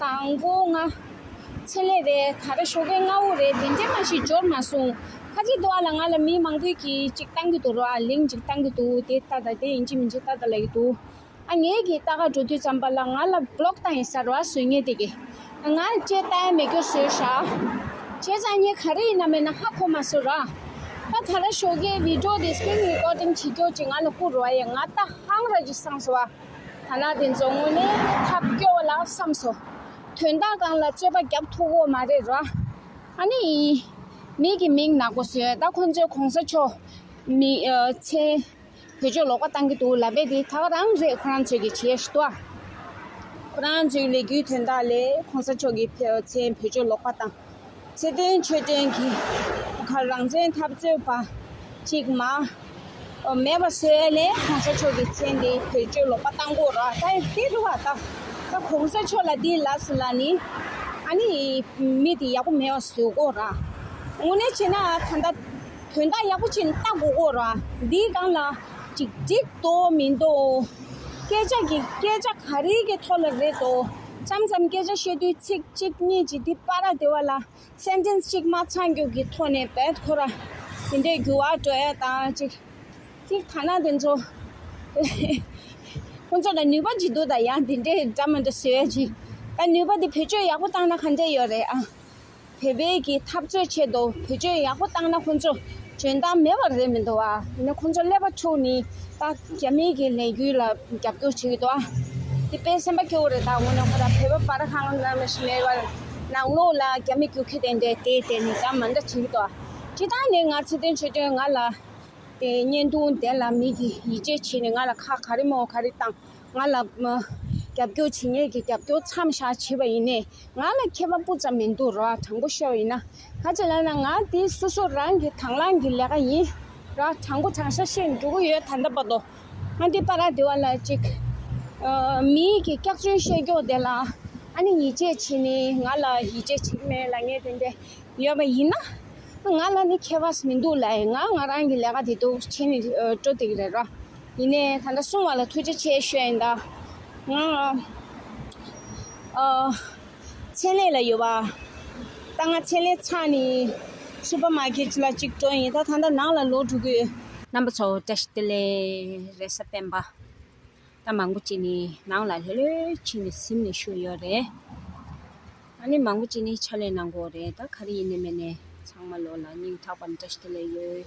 དང་པོ་ལྔ། མཚན་ལས་རེད་ད་རེ་ཞོགས་པའི་སྔ་བོ་རེད་དེ་འདྲས་མ་ཞིག་འབྱོར་མ་སོང། ཁ་ཆེ་དུ་བ་ལ་ང་ལ་མི་མང་པོས་གི་ཅིག་བཏང་གི་འདུག་རོ་ཨ་ལིང་ཅིག་བཏང་གི་འདུག་དེ་ལྟ་དང་དེ་ཡིན་གྱི་མིན་གྱི་ལྟ་ད་ལ་ཡི་འདུག་ཨ་ངས་གི་ལྟ་ག་འགྲོ་དུས་ཙམ་པ་ལ་ང་ལ Block བཏང་ཡིན་ས་རོ་ཨ་བཟོད་ངས་དེ་གི་ང་ལ་ཅེས་ལྟ་ཡ་མེད་སྐྱོ་བཟོད་ཤ་ཁྱེད་ཚང་གཉིས་ག་རེ་ཡིན་ན་མེད་ན་ཧ་གོ་མ་སོ་ར་ད་ད་ར་ཞོགས་ཀའི Video དེ Screen Recording བྱེད་སྐྱོ་ཅིག་ང་ལ་བསྐུར་རོ་ཨ་ཡ་ང་ལྟ་ཧང་ར་ཅིག་སངས་སོ་ཨ། ཐ་ན་དེ་ཚོ་དངོས་གནས་ཐབས་སྐྱོ་བ་ལ་བསམ་སོ། དོན་དག་གང་ལ་རྩོད་པ་རྒྱབ་ཐུག་འོ་མ་རེད་ར། ཨ་ནི་ཡིན། མིག་གི་མིག་ནག་པོ་བཟོས་ད་ཁོང་ཚོའི་གོང་ས་མཆོག། མི། ཚེ། བོད་ཆོས་ལོག་པ་བཏང་གི་འདུག་ལབ་པའི་དེ་དག་རང་རེད་ཁོ་རང་ཚོས་ཀྱི་བྱས་ཤི་ཏོ། ཁོ་རང་ཚོའི་ལས་རྒྱུའི་དོན་དག་ལས་ཁོང་ས་མཆོག་གི་ཚེ་བོད་ཆོས་ལོག་པ་བཏང། བརྩེ་ལྡན་མཆོད་རྟེན་གྱི་ཁར་རང་བཙན་འཐབ་རྩོད་པ་གཅིག་མ་མེད་པ་སེ་ལེ་གོང་ས་མཆོག་གི་མཚན་དེ་བེད་སྤྱོད་ལོག་པ་བཏང་གོ་ར་ད་དེ་རུ་བ་ད་ད་གོང་ས་མཆོག་ལ་དེ་ལགས་ལ་ནི་ཨ་ནི་མི་དེ་ཡག་པོ་མེད་པ་བཟོས་གོ་ར་དངོས་གནས་བྱས་ན་ད་ད་དོན་དག་ཡག་པོ་ཅིག་ལྟ་དགོས་གོ་ར་འདི་སྒང་ལ་ཅིག་འགྲིག་འདོག་མི་འདོག་སྐད་ཆ་གི་སྐད་ཆ་ག་རེ་གི་ཐོག་ལ་རེད་དོ། ཙམ་ཙམ་སྐད་ཆ་བཤད་དུས་ཚིག་གཅིག་གཉིས་ཀྱིས་དེ་སྤ་ར་བདེ་བ་ལ Sentence གཅིག་མ་ཚང་རྒྱུགས་ཀྱི་ཐོག་ནས་བེད་ཁོ་ར་དེ་འདྲའི་འགྱུར་བ་འགྲོ་ཡ་དང་གཅིག་གཅིག་ཐ་ན་དེ་ཚོ་ཁོ་ཚོ་ལ་ནུས་པ་ཇི་འདུག་དང་ཡང་དེ་འདྲའི་འདྲ་མི་འདྲ་ཟེར་བ་ཅིག་ད་ནུས་པ་དེ་བེད་སྤྱོད་ཡག་པོ་བཏང་ན་ག་འདྲ་ཡོད་རེད་ཨང། བོད་སྤེལ་གྱི་འཐབ་རྩོད་ཆེད་དུ་བེད་སྤྱོད་ཡག་པོ་བཏང་ན་ཁོང་ཚོ་འཇོན་ཐང་མེད་པ་རེད་མི་འདུག་བ། དེ་ནས་ཁོང་ཚོ་ཀླད་པ་འཁྲུགས་ནས་ད་རྒྱ་མི་གི་ལས་རྒྱུ་ལ་རྒྱབ་སྐྱོར་བྱེད་ཀྱི་འདུག་བ། དེ་དཔེ་སེམས་པ་སྐྱོ་བོ་རེད་ད་དགོངས་ནས་ཁོ་རང་བོད་པ་པར་ཧང་ལ་མི་ཞིག་མེད་པར་ནང་ལོགས་ལ་རྒྱ་མི་རྒྱུག་ཁྱི་དེ་འདྲས་དེ་ལྟས་ནས་ད་མ་འདྲ་བྱེད་ཀྱི་འདུག་བ། ཅི་ཐང་ནས་ང་ཚེ་དོན་ཆོས་དོན་ང་ལ། དེ་བརྙན་ཐུང་དེ་ལ་མི་གི་ཡིད་ཆེས་བྱས་ནས་ང་ལ་ཁ་ག་རེ་མོ་ག་རེ་བཏང་ང་ལ་རྒྱབ་སྐྱོར་བྱེད་མཁན་གྱི་རྒྱབ་སྐྱོར་མཚམས་བཞག་བྱས་པ་ཡིན། ང་ལ་མཁས་པ་སྤུ་ཙམ་མི་འདུག་རོགས་དྲང་པོ་ཤོག་ཡིན་ན། ག་ཅི་ལབ་ན་ང་དེ་སོ་སོ་རང་གི་དང་བླངས་གི་ལས་ཀ་ཡིན། རོགས་དྲང་པོ་དྲང་ཤ་ཤེས་འགྲོ་གི་ཡོད་ད་ལྟ་བར་དུ། ང་འདི་པ་ར་དེ་བ་ལ་ཅིག། མིའི་གི་སྐྱག་རྫུན་བཤད་སྐྱོག་དེ་ལ་ཨ་ནི་ཡིད་ཆེས་བྱེད་ནི་ང་ལ་ཡིད་ཆེས་བྱེད་ཀྱི་མེད་ལ་ངས་དེ་འདྲས་ཡོད་པ་ཡིན་ན། ང་ལ་ནི་མཁས་པ་མི་འདུག་ལ་ཡིན་ང་ང་རང་གི་ལས་ཀ་དེ་འདུག་བྱེད་ནི་འགྲོ་དེ་གི་རེད་རོགས། ཡིན་ནས་ད་ལྟ་གསུང་བ་ལ་ཐུགས་རྗེ་ཆེ་ཞུ་ཡིན་ད། ང། མཚན་ལས་ལ་ཡོད་པ། ད་ང་མཚན་ལས་ཚང་ནི། སུ་པར་མ་ཀེ་ལ་གཅིག་འགྲོ་ཡིན་ད་ད་ལྟ་ནང་ལ་ལོག་འགྲོ་གི་ཡོད། རྣམ་པ་ཚོ་བཀྲ་ཤིས་བདེ་ལེགས་རེད་ས་པན་པ། ད་མང་པོ་ཅིག་ནི་ནང་ལ་ལྷོད་ལྷོད་ཕྱིན་ནས་གཟིམ་ནས་བཞུགས་ཡོད་རེད། ད་ནི་མང་པོ་ཅིག་ནི་ཕྱག་ལས་གནང་དགོས་རེད་ད་ག་རེ་ཡིན་ནི་མེད་ནས་ཚང་མ་ལོག་ལ་སྙིང་ཐག་པ་ནས་བཀྲ་ཤིས་བདེ་ལེགས་ཡོད།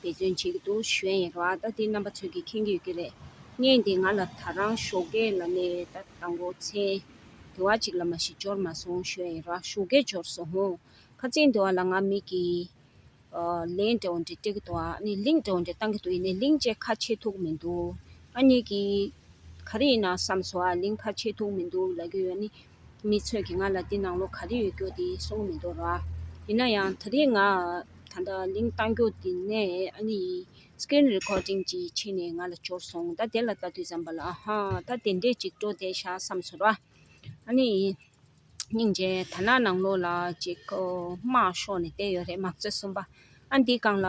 འབད་བརྩོན་བྱེད་ཀྱི་འདུག་གཞོན་ཡིན་རུང་ཨ་ལྟ་དེ་རྣམ་པ་ཚོས་ཀྱིས་མཁྱེན་གྱི་ཡོད་ཀྱི་རེད། ངས་འདི་ང་ལ་ད་རང་ཞོགས་ཀའི་ལ་ནས་ད་ལྟ་མགོ་ཚེ་དེ་བ་ཅིག་ལ་མ་ཞིག་འབྱོར་མ་སོང་གཞོན་ཡིན་རུང་ཨ་ཞོགས་ཀའི་འབྱོར་སོང་ཧོ། ཁ་ཚིག་འདི་བ་ལ་ང་མིག་གིས་ལན་འདྲ་བོ་འདྲ་སྤྲད་ཀྱི་འདུག་ཨ་ནི་ལིང་འདྲ་བོ་འདྲ་བཏང་གྱི་འདུག་ཡིན་ནའི་ལིང་བཅས་ཁ་ཕྱེ་ཐུག་མི་འདུག་ཨ་གཉིས་ཀྱིས། ག་རེ་ཡིན་ན་བསམས་སོང་ཨ་ལིང་ཁ་ཕྱེ་ཐུག་མི་འདུག་ལབ་ཀྱི་ཡོད་ནི། མི་ཚོས་ཀྱིས་ང་ལ་འདི་ནང་ལོགས་ག་རེ་ཡོད་རྒྱུ་དེ་གསུངས་མི་འདུག་རོགས་ཨ། ཡིན་ན་ཡང་ད་རེས་ང་ད་ལྟ་ལིང་བཏང་རྒྱུ་དེ་ནས་ཨ་ནི་ཡིན། Screen Recording ཅིག་ཕྱིན་ནས་ང་ལ་འབྱོར་སོང་ད་དེ་ལ་ལྟ་དུས་བྱམས་པ་ལགས་ཨ་ཧ། ད་དེ་འདྲས་ཅིག་སྤྲོ་བསྡད་བཞག་བསམ་ཚོར་རོགས་ཨ་ནི་ཡིན། སྙིང་རྗེ་ད་ནང་ནང་ལོགས་ལ་ཅིག་སྨྲ་ཤོག་ནས་བསྡད་ཡོད་རེད་མང་གཙོའི་གསུམ་པ་ཨ་འདི་གང་ལ།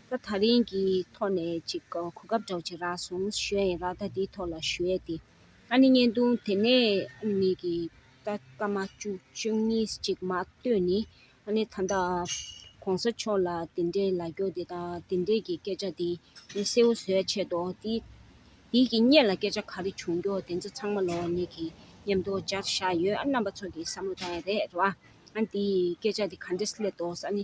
ད་ཐག་རིང་གི་ཐོག་ནས་ཅིག་གོ་སྐབས་འགྲོགས་ཅིག་རག་སོང་ཞོས་ཡིན་རག་ད་འདིའི་ཐོག་ལ་ཞོས་ཏེ་ཨ་ནི་བརྙན་ཐུང་དེ་ནས་ཨ་ནི་གི་ད་སྐར་མ་བཅུ་བཅུ་གཉིས་ཅིག་མ་ལྟོས་ནི་ཨ་ནི་ད་ད་གོང་ས་མཆོག་ལ་དེ་འདྲའི་ལ་རྒྱོགས་དེ་དང་དེ་འདྲའི་གི་སྐད་ཆ་དེ་ནི་གསལ་བོ་བཟོས་ཆད་དོ་དེ་དེའི་གི་བརྙན་ལ་སྐད་ཆ་ག་རེ་བྱུང་རྒྱོ་དེ་ཚོ་ཚང་མ་ལོ་ཨ་ནི་གི་ཉམས་དོ་སྦྱར་བཞག་ཡོད་ཨ་རྣམ་པ་ཚོ་གི་བསམ་བློ་དང་ཡང་རེད་རེད་བ་ཨ་ནི་དེའི་སྐད་ཆ་དེ་ག་འདྲས་སླེབས་དོ་ཨ་ནི།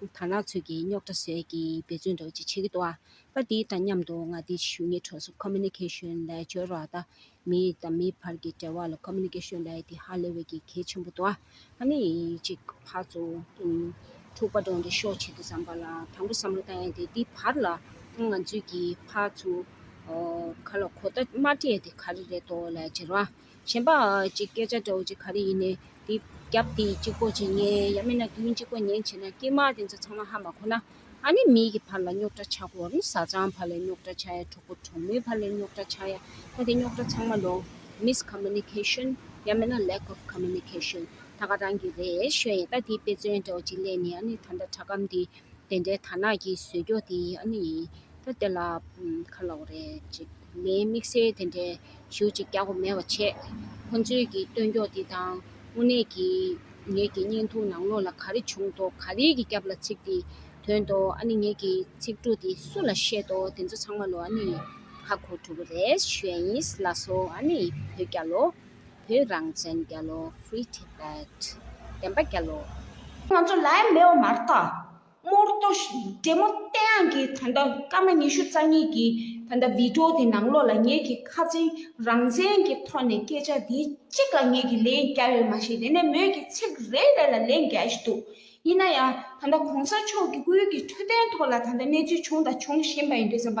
དར་ནག་ཚོས་ཀྱིས་རྙོག་དྲ་ཟད་ཀྱིས་འབད་བརྩོན་འགྲོ་ཅི་བྱེད་ཀྱི་འདུག་པར་དེ་དང་མཉམ་དུ་མངའ་སྡེའི་ཆེད་ཞུ་གཉིས་གྲོས་ཚོགས Communication ལས་བྱེད་རོགས་ཟླ། མི་དང་མི་བར་གྱི་འབྲེལ་བ་ལ Communication ལས་དེ་ཧ་ལས་བས་ཀྱི་གལ་ཆེན་པོ་འདུག་ཨ་ནི་ཅིག་ཕར་ཚུར། འཁྲུག་པ་སྒྲོག་འདི་ཤོག་བྱེད་དུ་བསམ་པ་ལ་དྲང་པོ་བསམ་བློ་བཏང་ཡས་དེ་དེ་བར་ལ་ང་ཚོས་ཀྱིས་ཕར་ཚུར། ག་ལ་གོ་བརྡ་མ་སྤྲད་དེ་ག་རེ་རེད་དོ་ལས་བྱེད་རོགས། གཞན་པ་གཅིག་སྐད་ཆ་འདྲ་བོ་ཅིག་ག་རེ་ཡིན་ནས་དེ་རྒྱབ་དེ་གཅིག་པོ་ཅིག་ཉན་ཡང་མིན་ན་དེ་མིན་གཅིག་པོ་ཉན་བྱས་ན་སྐྱེས་མ་དེ་ཚོ་ཚང་མ་ཧ་མ་གོ་ན་ཨ་ནི་མིའི་གི་བར་ལ་རྙོག་གྲ་ཆག་གོ་རི་བཟའ་ཚང་བར་ལ་རྙོག་གྲ་ཆག་ཡ་གྲོགས་པོ་གྲོགས་མོའི་བར་ལ་རྙོག་གྲ་ཆག་ཡ་ད་དེ་རྙོག་གྲ་ཚང་མ་ལོང Miss Communication ཡང་མིན་ན Lack of Communication ད་ག་རང་གི་རེད་ཤོད་ཡ་ད་དེ་དཔེ་མཚོན་འདྲ་བོ་ཅིག་གླས་ནས་ཨ་ནི་ད་ལྟ་དྲ་སྒམ་འདི། དེ་འདྲའི་དར་ནག་གི་ཟོལ་རྒྱོགས་དེ་ཡིན་ཨ་ནི་ཡིན། ད་དེ་ལ་ཁ་ལོག་རེད་ཅེས་མིའི་དམིགས་བསལ་དེ་འདྲའི་གཞུག་ཅིག་རྒྱག་གོ་མེད་པ་བྱས། ཁོ་ཚོའི་གི་སྟོན་རྒྱོགས་དེ་དང་དངོས་གནས་ཀྱི་ངེད་ཀྱི་བརྙན་ཐུང་ནང་ལོགས་ལ་ག་རེ་བྱུང་དོ་ག་རེ་གི་སྐྱབས་ལ་ཚིག་དེ་དོན་ཏོ་ཨ་ནི་ངེད་ཀྱི་ཚིག་འབྲུ་དེ་སུ་ལ་བཤད་དོ་དེ་ཚོ་ཚང་མ་ལོ་ཨ་ནི་ཡིན། ཧ་གོ་ཐུབ་པོ་རེད་ཞོའི་ཡིན་ལ་སོ་ཨ་ནི་ཡིན་བོད་རྒྱ་ལོ། བོད་རང་བཙན་རྒྱ་ལོ Free Tibet བདེན་པ་རྒྱ་ལོ། ང་ཚོ་ལའི་མེ་འོ་མར་དང། རྨོར་གཏོ་བྲེ་མོ་སྟེ་ཨང་ཀི་ད་ལྟ་སྐར་མ་ཉི་ཤུ་རྩ་གཉིས་ཀྱི་ད་ལྟ་བི་ཀྲོ་དེ་ནང་ལོགས་ལ་ངེད་ཀྱི་ཁ་ཚིག་རང་བཙན་གྱི་ཐོག་ནས་སྐད་ཆ་དེ་གཅིག་ལ་ངེད་ཀྱི་ལན་རྒྱ་ཡོད་མ་ཤེས་དེ་ནས་མོད་ཀྱི་ཚིག་རེ་རེ་ལ་ལན་རྒྱ་བཞིན་འདུག་ཡིན་ན་ཡང་ད་ལྟ་གོང་ས་མཆོག་གི་སྐུའི་གི་འཕྲོད་བསྟེན་ཐོག་ལ་ད་ལྟ་གནས་ཚུལ་བྱུང་དང་འབྱུང་བཞིན་པ་ཡིན་འདུག་བསམ་པ་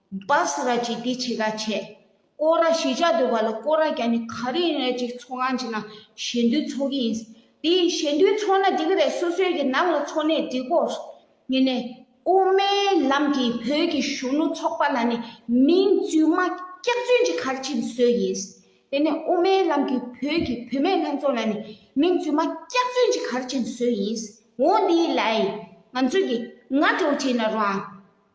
སྦས་ར་ཅིག་དེ་ཆེ་ག་བྱས། ཀོ་ར་ཞེས་བྱ་འདོད་པ་ལ་ཀོ་ར་རྒྱ་ནི་ག་རེ་ཡིན་རེ་ཅིག་འཚོ་གང་བྱེད་ན་ཞེ་འདོད་འཚོ་གི་ཡིན། དེ་ཡིས་ཞེ་འདོད་འཚོ་ན་འགྲིག་རེད་སོ་སོའི་གི་ནང་ལ་འཚོ་ནས་འགྲིག་གོ། ངེད་ནས་དབུ་མའི་ལམ་གྱི་བོད་ཀྱི་གཞོན་ནུ་ཚོགས་པ་ལ་ནི་མིང་རྫུན་མ་སྐྱག་རྫུན་ཅིག་གར་ཕྱིན་བཟོས་ཡིན། དེ་ནས་དབུ་མའི་ལམ་གྱི་བོད་ཀྱི་བུད་མེད་ལྷན་ཚོགས་ལ་ནི་མིང་རྫུན་མ་སྐྱག་རྫུན་ཅིག་གར་ཕྱིན་བཟོས་ཡིན། འོ་དེའི་ལའི། ང་ཚོས་གི་ང་གྲོ་བྱས་ན་རང།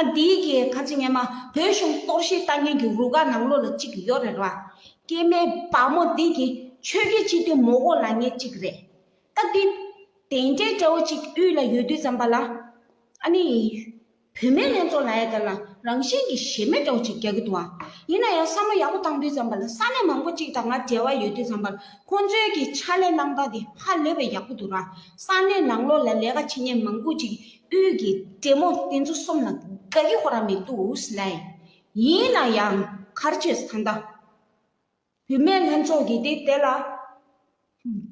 ཨ་འདི་གི་ཁ་ཆེ་ངས་མ་བོད་གཞུང་གཏོར་བཤིག་བཏང་མཁན་གྱི་རུ་ཁག་ནང་ལོ་ལ་གཅིག་ཡོད་རེད་ར། སྐྱེས་མའི་བ་མོ་འདི་གི་ཆོས་རྒྱལ་སྤྱི་མཐུན་མོ་གོ་ལ་ངེ་གཅིག་རེད། ཨ་འདི། དེ་འདྲའི་སྐྲ་བོ་གཅིག་དབུས་ལ་ཡོད་དུས་ཙམ་པ་ལ། ཨ་ནི། བུད་མེད་ལྷན་ཚོགས་ལ་ཡ་དེ་ལ་རང་བཞིན་གྱི་ཞེ་མེད་སྐྲ་བོ་གཅིག་རྒྱག་གི་འདུག་ཨ། ཡིན་ན་ཡང་བསམ་བློ་ཡག་པོ་བཏང་དུས་ཙམ་པ་ལ་ས་གནས་མང་པོ་གཅིག་དང་ང་འབྲེལ་བ་ཡོད་དུས་ཙམ་པ་ལ་ཁོང་ཚོའི་གྱི་ཕྱག་ལས་གནང་སྟངས་དེ་ཧ་ལས་པའི་ཡག་པོ་འདུག་ར། ས་གནས་ནང་ལོ་ལ་ལས་ཀ་བྱེད་མཁན་མང་པོ་གཅིག་དབུས་ཀྱི་བྲན་མོ་དེ་ཚོ་གསུམ་ལ་དགའ་གི་ཧོར་ར་མི་འདུག་ཨུས་ལན། ཡིན་ན་ཡང་གར་བྱེད་ས་མདའ། བུད་མེད་ལྷན་ཚོགས་ཀྱི་དེ་དེ་ལ།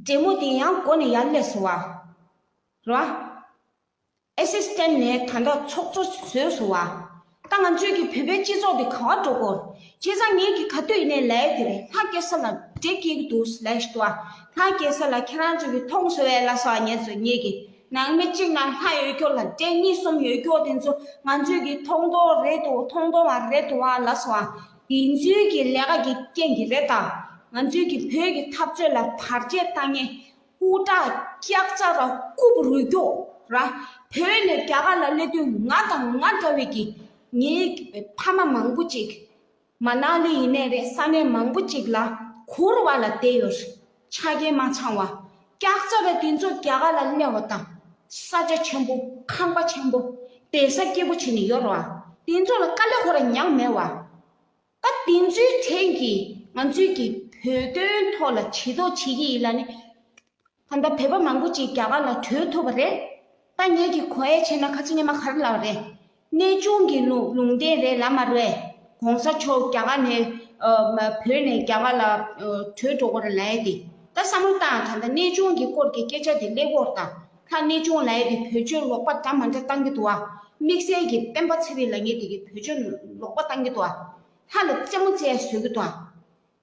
བྲན་མོ་དེ་ཡང་སྒོ་ནས་ཡར་སླེབས་སོང་བ། ར། ཨེ་སེ་སྟན་ནས་ད་ལྟ་ཚོགས་གཙོ་བཟོས་སོང་བ། ད་ང་ཚོས་ཀྱི་བོད་པའི་སྤྱི་ཚོགས་དེ་ག་བ་འགྲོ་གོ། ཁྱེད་ཚང་ངེད་ཀྱི་ག་དུས་ཡིན་ནའི་ལའི་དེ་རེད་ང་སྐྱེ་ས་ལ་དེ་སྐྱེ་གི་འདུག་ལའི་ཞུ་བ་ང་སྐྱེ་ས་ལ་ཁྱེད་རང་ཚོ་ཀྱི་ཐོང་ཟོ་བའི་ལ་ས་བ་ངེད་ཚོ་ངེད་ཀྱི་ནང་མི་གཅིག་ན་ལྷ་ཡོད་སྐྱོ་ལ་དྲེད་གཉིས་གསུམ་ཡོད་སྐྱོ་དེ་ཚོ་ང་ཚོས་ཀྱི་ཐོང་དོ་རེད་དུ་ཐོང་དོ་བ་རེད་དུ་བ་ལ་ས་བ་དེ་ཚོའི་ཀྱི་ལས་ཀ་གྱི་རྐྱེན་གྱི་རེད་ད་ང་ཚོས་ཀྱི་བོད་ཀྱི་འཐབ་རྩོད་ལ་བར་ཆད་བཏང་ངེས་སྐུ་དྲག་སྐྱག་རྩ་ར་རྐུབ་རུས་སྐྱོག་ར་བོད་ནས་རྒྱ་གར་ལ་སླེབས་དུས་ང་དང་ང་འདྲ་བའི་གི་ངའི་ཕ་མ་མང་པོ་ཅིག་མ་ནག་ལི་ཡིན་ནས་རེད་ས་གནས་མང་པོ་ཅིག་ལ་གུར་བ་ལ་བསྡད་ཡོད་ཆ་རྐྱེན་མ་ཚང་བ་སྐྱག་རྩ་ར་དེ་ཚོ་རྒྱ་གར་ལ་གནས་བ་དང་ས་ཆ་ཆེན་པོ་ཁང་པ་ཆེན་པོ་བལ་ས་སྐྱིད་པོ་བྱེད་ནས་ཡོད་ར་བ་དེ་ཚོ་ལ་དཀའ་ལས་ཁོ་ར་མྱངས་མེད་བ། སྐབས་དེ་ཚོའི་ཕྲན་གྱིས་ང་ཚོས་ཀྱི་བོད་དོན་ཐོག་ལ་བྱེད་དོགས་བྱེད་ཀྱི་ཡིན་ལ་ནི། ད་ལྟ་བོད་པ་མང་པོ་ཅིག་རྒྱ་གར་ལ་བྲོས་ཐུབ་པ་རེད། ཐ་སྙད་ཀྱི་གོ་ཨེ་ཆེ་ན་ཁ་ཆེ་ཉི་མ་གར་ལགས་རེད། གནས་ཆུང་གི་ལུང་ལུང་བསྟན་རེད་ལབ་མ་རེད། གོང་ས་མཆོག་རྒྱ་གར་ནས་བོད་ནས་རྒྱ་གར་ལ་བྲོས་འགྲོ་གོ་རེ་ལ་ཨེ་དེ། ད་བསམ་བློ་བཏང་ད་ལྟ་གནས་ཆུང་གི་སྐོར་གྱི་སྐད་ཆ་དེ་ཀླད་ཀོར་དང། ལྷ་གནས་ཆུང་ལའེ་ཀྱི་བོད་ཆོས་ལོག་པ་འདྲ་མ་འདྲ་བཏང་གི་འདུག་ཨ། དམིགས་བསལ་གྱིས་སྤེན་པ་ཚེ་རིང་ལ་ངེད་འདི་གི་བོད་ཆོས་ལོག་པ་བཏང་གི་འདུག་ཨ། ལྷ་ལ་རྩེད་མོ་རྩེད་བཟོད་ཀྱི་འདུག་ཨ།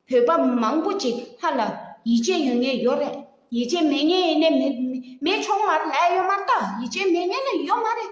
བོད་པ་མང་པོ་ཅིག་ལྷ་ལ་ཡིད་ཆེས་ཡོད་ངེས་ཡོད་རེད། ཡིད་ཆེས་མེད་ངེས་ཡིན་ནས་མེད་མེད་ཆོག་མ་རེད་ཨ་ཡོད་མ་རེད་ད་ཡིད་ཆེས་མེད་ངེས་ན་ཡོད་མ་རེད།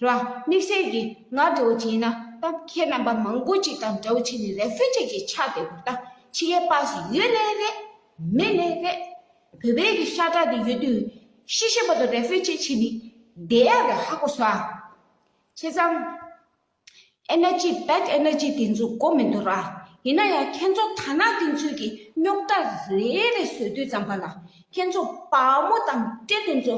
ར། དམིགས་བསལ་གྱིས་ང་འདྲ་བོ་བྱས་ན་གཏམ་ཁྱེད་རྣམ་པ་མང་པོ་ཅིག་དང་འདྲ་བོ་བྱས་ནས་རེ་ཕུད་ཅིག་ཅིག་ཆགས་བསྡད་འདུག་ད་ཕྱི་ཡས་པགས་སུ་ཡོད་ལེ་རེད། མེད་ལེ་རེད། བོད་པའི་གི་ཤ་ཁྲག་དེ་ཡོད་དུས་ཤི་ཤི་བ་དང་རེ་ཕུད་ཅིག་བྱས་ནས་བསྡད་ཡག་རེད་ཧ་གོ་ས། བྱས་ཙང། Energy back energy དེ་ཚོ་གོ་མི་འདུག་ར། ཡིན་ན་ཡང་ཁྱེད་ཚོ་ཐ་ན་དེ་ཚོས་ཀྱི་རྙོག་དྲ་རེ་རེ་བཟོས་དུས་ཙམ་པ་ལ་ཁྱེད་ཚོ་དཔའ་མོ་དང་བཀྲས་མཐུན་ཚོ་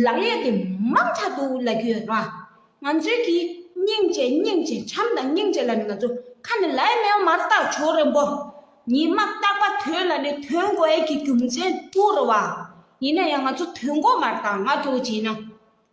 ལག་གཡས་དེ་མང་དྲག་འདུག་ལབ་ཀྱི་ཡོད་ར། ང་ཚོས་ཀྱི་སྙིང་རྗེ་སྙིང་རྗེ་བྱམས་དང་སྙིང་རྗེ་ལ་ནི་ང་ཚོ་ཁ་ནས་ལའི་མེའོ་མ་ར་ཏག་བྱོ་རེ་འབོ། ཉི་མ་རྟག་པ་དོན་ལ་ནི་དོན་གོ་ཨེ་ཀྱི་རྒྱུ་མཚན་དུ་རུ་བ། ཡིན་ན་ཡང་ང་ཚོ་དོན་གོ་མ་ར་ཏག་ང་ཀྱོ་བྱེད་ན།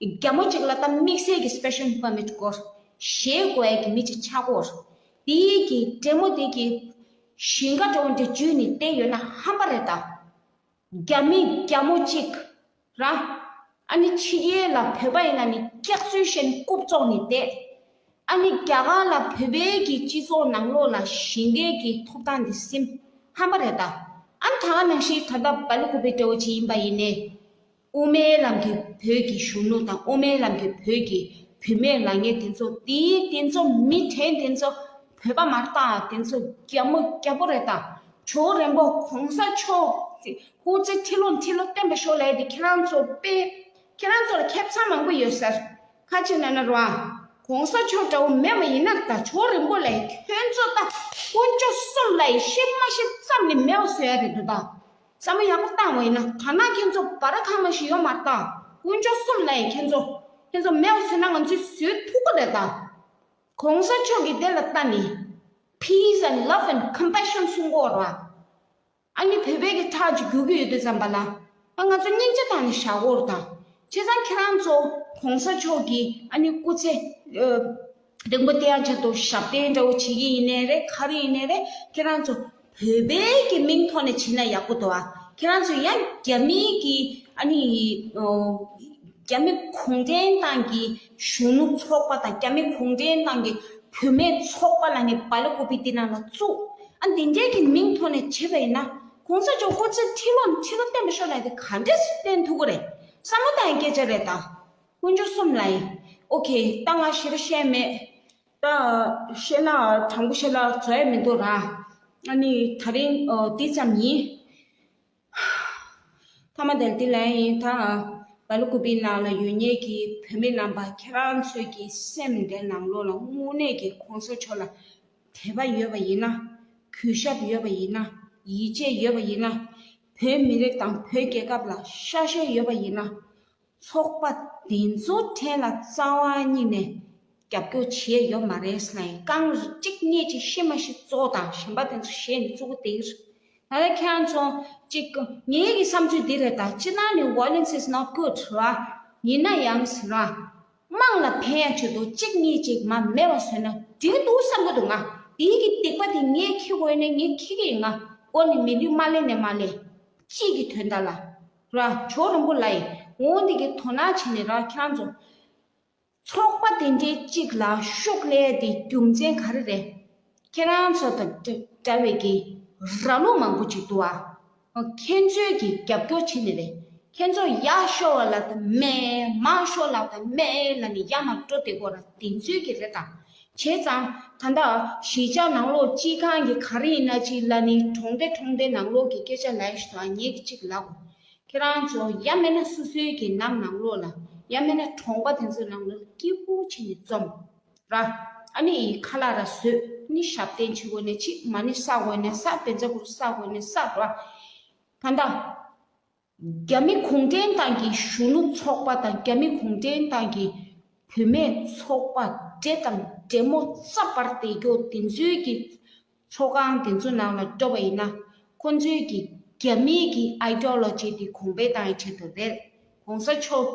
རྒྱ་མོ་གཅིག་ལ་ད་དམིགས་བསལ་གྱི Special Permit དགོས། ཞེས་བཀོད་ཡས་ཀྱི་མི་གཅིག་ཆག་གོ། དེ་ཡས་ཀྱི་བྲན་མོ་དེ་གྱིས། ཞིང་ཁ་གྲོང་གི་བྱུས་ནི་དེ་ཡོད་ན་ཧམ་པ་རེད་ད། རྒྱ་མི་རྒྱ་མོ་གཅིག། ར། ཨ་ནི་ཕྱི་རྒྱལ་ལ་བོད་པ་ཡིན་ན་ནི་སྐྱག་རྫུན་བཤད་ནི་རྐུབ་བཙོག་ནི་བསྡད། ཨ་ནི་རྒྱ་གར་ལ་བོད་པའི་གྱི་སྤྱི་ཚོགས་ནང་ལོག་ལ་ཞིང་ཁའི་གྱི་ཐོབ་ཐང་དེ་སིམ་ཧམ་པ་རེད་ད། ཨ་ད་ནང་བཞིན་ད་ད་བ་ལུ་གུ་པའི་དྲེའོ་ཅི་ཡིན་པ་ཡིན་ནས། དབུ་མའི་ལམ་གྱི་བོད་ཀྱི་གཞོན་ནུ་དང་དབུ་མའི་ལམ་གྱི་བོད་ཀྱི་བུད་མེད་ལ་ངས་དེ་ཚོ་དེའི་དེ་ཚོ་མི་དྲན་དེ་ཚོ་བོད་པ་མ་རེད་ད་དེ་ཚོ་རྒྱ་མོ་རྒྱ་པོ་རེད་ད་ཇོ་རེན་པོ་གོང་ས་མཆོག་སྐུ་ཚེ་ཁྲི་ལོ་ཁྲི་ལོ་བརྟན་པ་ཤོག་ལེ་དེ་ཁྱེད་རང་ཚོ་དཔེ་ཁྱེད་རང་ཚོ་ལ་ཁྱད་མཚར་མང་པོ་ཡོད་ཟེར་ཁ་ཆེ་ན་ན་རོ་ཨ་གོང་ས་མཆོག་འདྲ་བོ་མེད་མ་ཡིན་ན་ད་ཇོ་རེན་པོ་ལས་ཁྱོད་ཚོ་ད་དཀོན་མཆོག་གསུམ་ལ་ཡིད་ཤེས་མ་ཤེས་ཙམ་ལས་མེད་བ་བཟོ་ཡ་རེད་འདུག་ད་བསམ་བློ་ཡག་པོ་བཏང་བས་ན་དར་ནག་ཁྱེད་ཚོ་བ་ར་ཁ་མ་ཞིག་ཡོང་མ་ལྟ་དཀོན་མཆོག་གསུམ་ལ་ཡི་ཁྱེད་ཚོ་ཁྱེད་ཚོ་མེད་བ་ཟོས་ན་ང་ཚོས་ཟོས་ཐུག་གོ་རེད་ད་གོང་ས་མཆོག་གིས་དེ་ལ་ལྟ་ནས peace and love and compassion གསུང་གོ་ར་ཨ་ནི་བོད་པའི་གི་ཁྲག་གཅིག་རྒྱུག་གི་ཡོད་དུས་ཙམ་པ་ལ་ང་ང་ཚོ་སྙིང་རྗེ་བཏང་ནས་བཞག་གོ་ར་ད་བྱས་ཙང་ཁྱེད་རང་ཚོ་གོང་ས་མཆོག་གིས་ཨ་ནི་སྐུ་ཚེ་སྡོང་པོ་དེ་ཡང་ཆ་དོ་ཞབས་བརྟན་འདྲ་བོ་བྱེད་ཀྱི་ཡིན་ནས་རེད་ཁ་རུ་ཡིན་ནས་རེད་ཁྱེད་རང་ཚོ་བོད་པའི་གི་མིང་ཐོག་ནས་བྱེད་ན་ཡག་པོ་འདུག་ཨ་ཁྱེད་རང་ཚོ་ཡང་རྒྱ་མི་གི་ཨ་ནི་རྒྱ་མི་གུང་ཁྲན་ཏང་གི་གཞོན་ནུ་ཚོགས་པ་དང་རྒྱ་མི་གུང་ཁྲན་ཏང་གི་བུད་མེད་ཚོགས་པ་ལ་ནི་བ་ལོ་ཀོ་པི་དེ་རྣམས་ལ་བཙུགས་ཨ་དེ་འདྲའི་གི་མིང་ཐོག་ནས་བྱེད་པ་ཡིན་ན་གོང་ས་མཆོག་ཧུར་བརྩོན་ཁྲི་ལོ་ཁྲི་ལོ་བསྟན་པ་ཤོར་ནས་དེ་ག་འདྲས་སུ་བསྟན་ཐུབ་ཀི་རེད་བསམ་བློ་བཏང་ཡང་སྐད་ཆ་རེད་ད། ཀུན་སྦྱོར་གསུམ་ལ་ཡིན། ཨོ་ཁེ། རྟ་ང་བཞིར་བཤད་མེད། རྟ་བཤད་ན་དྲང་པོ་བཤད་ན་བཟོ་ཡ་མི་འདུག་ར། ཨ་ནི་ད་རིང་དེ་ཙམ་ཡིན། ཐ་མ་དེར་དེ་ལན་ཡིན་ད། བ་ལུ་ཀུ་པའི་ནང་ལ་ཡོད་ཉེས་ཀྱི་བུད་མེད་རྣམས་པ་ཁྱེད་རང་ཚོས་ཀྱི་སེམས་འདེར་ནང་ལོག་ལ་དངོས་གནས་ཀྱི་ཁོང་ཚོ་ཕྱོགས་ལ་དད་པ་ཡོད་པ་ཡིན་ན། གུས་ཞབས་ཡོད་པ་ཡིན་ན། ཡིད་ཆེས་ཡོད་པ་ཡིན་ན། བོད་མི་རིགས་དང་བོད་རྒྱལ་ཁབ་ལ་ཤ་ཤེད་ཡོད་པ་ཡིན་ན། ཚོགས་པ་འདི་ཚོ་ཕྲན་ལ་རྩ་བ་ཉིད་ནས་རྒྱབ་སྐྱོར་བྱས་ཡོད་མ་རེད་སླད་རྐང་གཅིག་སྙེད་ཅིག་ཤི་མ་ཤི་གཙོ་དང་གཞན་པ་དེ་ཚོ་བཤད་ནས་བཙུགས་པ་དེ་རེད། ད་ལྟ་ཁྱེད་རང་ཚོ་གཅིག་ངེད་ཀྱི་བསམ་ཚུལ་འདི་རེད་ད་སྤྱིར་ན་ནི violence is not good ར། ཡིན་ན་ཡང་ཟེར་ར། དམངས་ལ་ཕན་ཡང་བྱེད་དོ་གཅིག་སྙེད་ཅིག་མ་མེད་པ་བཟོས་ན་འགྲིག་གི་འདུག་བསམ་གྱི་འདུག་ང་དེའི་གི་སྡིག་པ་དེ་ངས་ཁྱི་དགོས་ནས་ངས་ཁྱི་གི་ཡིན་ང་དགོས་ནས་མི་ལུས་མ་གླས་ནས་མ་གླས། སྤྱིས་ཀྱི་དོན་དག་ལ་ར་ཇོ་རིན་པོ་ལ་ཡིས་འོ་འདི་གི་དོ་སྣང་བྱས་ནས་ར་ཁྱེད་རང་ཚོ་ཚོགས་པ་དེ་འདྲའི་གཅིག་ལ་ཤུགས་ལས་དེ་རྒྱུ་མཚན་ག་རེ་རེད་ཁྱེད་རང་ཚོ་དང་འདྲ་བའི་གི་ར་ལོ་མང་པོ་ཅིག་འདུག་ཨ་ཁྱེད་ཚོའི་གི་རྒྱབ་སྐྱོར་བྱས་ནས་རེད་ཁྱེད་ཚོ་ཡག་ཤོ་བ་ལ་དང་མེད་མང་ཤོ་ལ་དང་མེད་ལ་ནི་ཡག་མ་སྤྲོ་དེ་གོ་ར་དེ་ཚོའི་གི་རེད་དང་བྱས་ཙང། ད་ལྟ། གཞིས་ཆགས་ནང་ལོགས་སྤྱི་ཁང་གི་ག་རེ་ཡིན་ན་ཅིག་ལ་ནི་གྲོང་སྡེ་གྲོང་སྡེ་ནང་ལོགས་ཀྱི་སྐད་ཆ་ལས་ཞུ་དང་ཉེ་གི་ཅིག་ལབ། ཁྱེད་རང་ཚོ་ཡ་མེད་ན་སོ་སོའི་གི་ནང་ནང་ལོགས་ལ་ཡ་མེད་ན་གྲོང་པ་དེ་ཚོ་ནང་ལོགས་ལ་སྐྱིད་པོ་བྱས་ནས་རྩོམ། ར། ཨ་ནི་ཡི་ཁ་ལ་ར་བཟོས་ནི་ཞབས་བརྟན་བྱེད་དགོས་ནས་ཅིག་མ་ནི་ས་དགོས་ནས་ས་བེ་འཛག་གུ་རུ་ས་དགོས་ནས་ས་ར། ད་ལྟ། རྒྱ་མི་གུང་ཁྲན་ཏང་གི་གཞུང་ལུགས་ཚོགས་པ་དང་རྒྱ་མི་གུང་ཁྲན་ཏང་གི་བུད་མེད་ཚོགས་པ་འདྲེ་དང་འདྲེ་མོ་རྩ་བར་བསྡད་རྒྱུ་དེ་ཚོའི་གི་ཚོགས་ཁང་དེ་ཚོ་ནང་ལ་འགྲོ་བ་ཡིན་ན་ཁོ་ཚོའི་གི་རྒྱ་མི་གི Ideology དེ་གོང་འཕེལ་གཏང་ཡི་ཆེད་དུ་རེད་གོང་ས་མཆོག་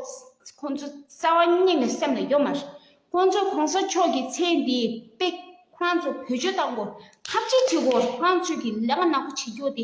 ཁོ་ཚོ་རྩ་བ་ཉིད་ནས་སེམས་ལ་ཡོད་མ་རེད་ཁོ་ཚོ་གོང་ས་མཆོག་གི་མཚན་དེའི་དཔེ་ཁོ་རང་ཚོ་བོད་ཆོས་གཏང་དགོས་ཐབས་ཅི་བྱེད་དགོས་ཁོ་རང་ཚོའི་གི་ལས་ཀ་ནག་པོ་བྱེད་རྒྱུ་དེ